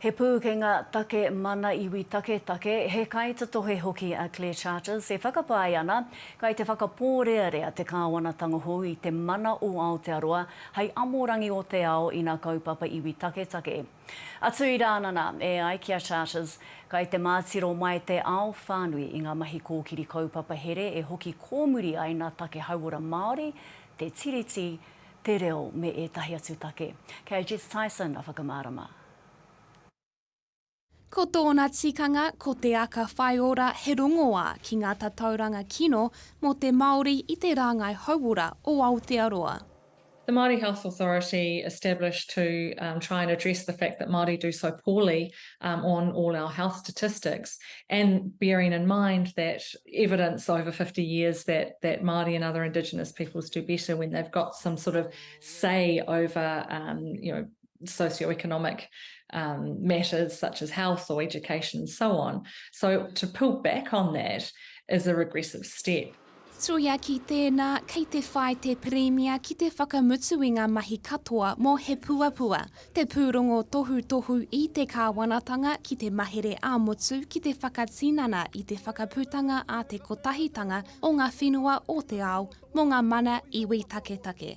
He pūkenga take mana iwi taketake, he kaitatohe hoki a Claire Charters e whakapae ana, kei te whakapōrearea te Kāwanatanga hou i te mana o Aotearoa hei amorangi o te ao ina kaupapa iwi taketake. Atu i Rānana, e ai ki a Charters, kei te mātiro mai te ao whānui i ngā mahi kōkiri kaupapa here e hoki kōmuri ai nā take hauora Māori, te Tiriti, te reo me ētahi atu take. Kei a Jess Tyson a whakamārama. Ko tōna tikanga ko te aka whaiora he rongoā ki ngā tatauranga kino mō te Māori i te rāngai hauora o Aotearoa. The Māori Health Authority established to try and address the fact that Māori do so poorly on all our health statistics and bearing in mind that evidence over fifty years that Māori and other indigenous peoples do better when they've got some sort of say over you know socio-economic um, matters such as health or education and so on. So to pull back on that is a regressive step. Tuia ki tēnā, kei te whai te Pirimia ki te whakamutu i ngā mahi katoa mō He Puapua, te pūrongo tohutohu i te kāwanatanga ki te mahere ā-motu ki te whakatinana i te whakaputanga a te kotahitanga o ngā whenua o te ao mō ngā mana iwi taketake.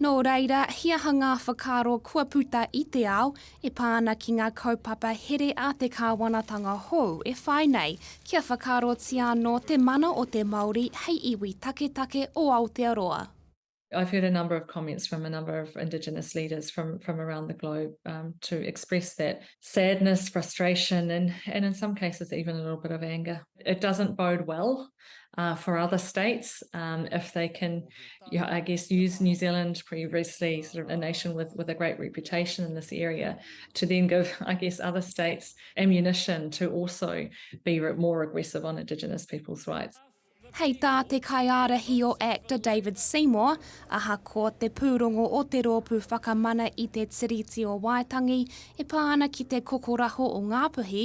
Nō reira, he aha ngā whakaaro kua puta i te ao e pā ana ki ngā kaupapa here a te kāwanatanga hou e whai nei kia whakaarotia anō te mana o te Māori hei iwi taketake o Aotearoa? I've heard a number of comments from a number of Indigenous leaders from from around the globe um, to express that sadness, frustration, and and in some cases even a little bit of anger. It doesn't bode well uh, for other states um, if they can, you know, I guess, use New Zealand previously sort of a nation with, with a great reputation in this area to then give, I guess, other states ammunition to also be more aggressive on Indigenous people's rights. Hei tā te kaiārahi o ACTA David Seymour, ahakoa te pūrongo o te rōpū whakamana i te Tiriti o Waitangi e pā ana ki te kokoraho o Ngāpuhi,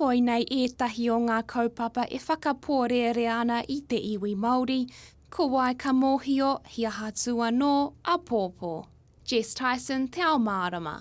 Koinei ētahi o ngā kaupapa e whakapōrearea ana i te iwi Māori, Ko wai ka mōhio, he aha tū anō, Apōpō. Jess Tyson, Te Ao Mārama.